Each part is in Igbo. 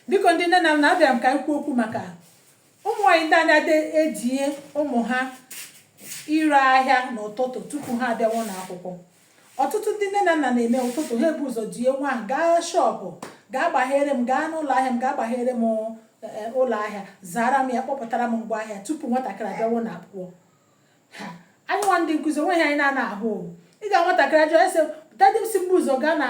biko ndị nne na nna abịara m ka anyị kwuo okwu maka ụmụ nwaanyị ndị a na-edinye ụmụ ha ire ahịa n'ụtụtụ tupu ha abịawa ụlọ akwụkwọ ọtụtụ ndị nne na nna na-eme ụtụtụ ha ebu ụzọ dinye nwa ahụ gaa shọpụ gaa gbaghere m gaa n'ụlọ ahịa m gaa gbaghere m eh, ụlọ ahịa zara m ya kpọpụtara m ngwa ahịa tupu nwatakịrị abịawa ụlọ akwụkwọ anyị nwa ndị nkụzi o nweghị ihe anyị na-anaghị ahụ ị ga nwatakịrị a jụọ ọ sị dadi m sị m bu ụzọ gaa na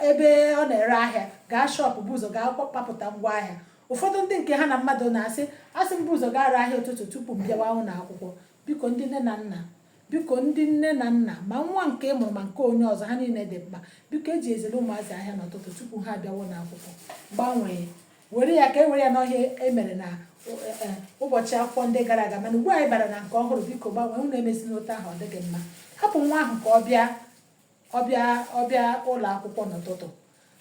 ebe ọ na-ere ahịa gaa shọpụ bu ụzọ gaa kpapụta ngwa ahịa ụfọdụ ndị nke ha na mmadụ nọ asị a sị m bu ụzọ gaa ree ahịa ụtụtụ tupu m bịawa ụlọ akwụkwọ biko ndị nne na nna biko ndị nne na nna ma nwa nke ị mụrụ ma nke onye ọzọ ha niile dị mkpa biko ejizila ụmụazị ahịa n'ụtụtụ tupu ha abịawa ụlọ akwụkwọ gbanwee were ya ka e were ya n'ọ ihe e mere na e, ụbọchị akwụkwọ ndị gara aga mana ugbu a anyị bara na nke ọhụrụ biko gbanwee unu emezina otu ahụ ọ dịghị mma hapụ nwa ahụ ka ọ bịa ọ bịa ọ bịa ụlọ akwụkwọ n'ụtụtụ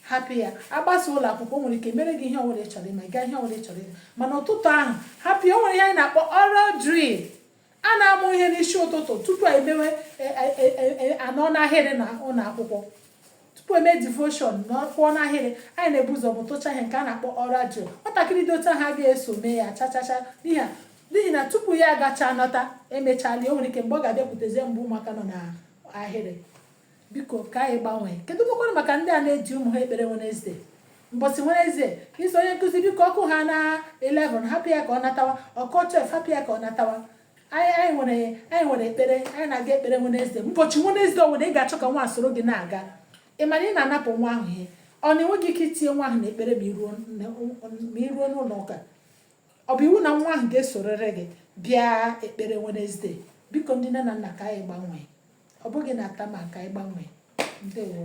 hapụ ya a gbasaa ụlọ akwụkwọ o nwere ike mere gị ihe ọbụla ị chọrọ ịma gaa ihe ọbụla ị chọrọ ịma mana ụtụtụ ahụ hapụ ya o nwere ihe anyị na-akpọ oral drill a na-amụ ihe n'isi ụtụtụ tupu emewe e, e, e, a nọ n'ahịrị na ụlọ akwụkwọ tupu e mee devoshon na ịkwụ n'ahịrị anyị na-ebu ụzọ mụtụcha ihe nke a na-akpọ oral drill nwatakịrị dị otu ahụ agaghị eso mee ya chachacha n'ihi n'ihi na tupu ya agacha nọta e mechaala o nwere ike mgbe ọ ga-abịakwutezie mgbe ụmụaka nọ n'ahịrị biko ka anyị gbanwee kedụkwanụ maka ndị a na-eji ụmụ ha ekpere Wenezdee mbọsị Wenezdee ị sị onye nkụzi biko ọ kụhana 11 hapụ ya ka ọ natawa ọ kụọ 12 hapụ ya ka ọ natawa anyị nwere anyị nwere ekpere anyị na-aga ekpere Wenezdee ụbọchị Wenezdee ọwụna ị ga-achọ ka nwa soro gị na-aga ị mara ị na-anapụ nwa ahụ ihe ọ na i nweghị ike itinye nwa ahụ na ekpere ma i ruo n'ụlọ ụka ọ bụ iwu na nwa ahụ ga-esorịrị gị bịa ekpere Wenezde biko ndị nne na nna ka anyị gbanwee ọ bụghị na atama ka anyị gbanwee ndewo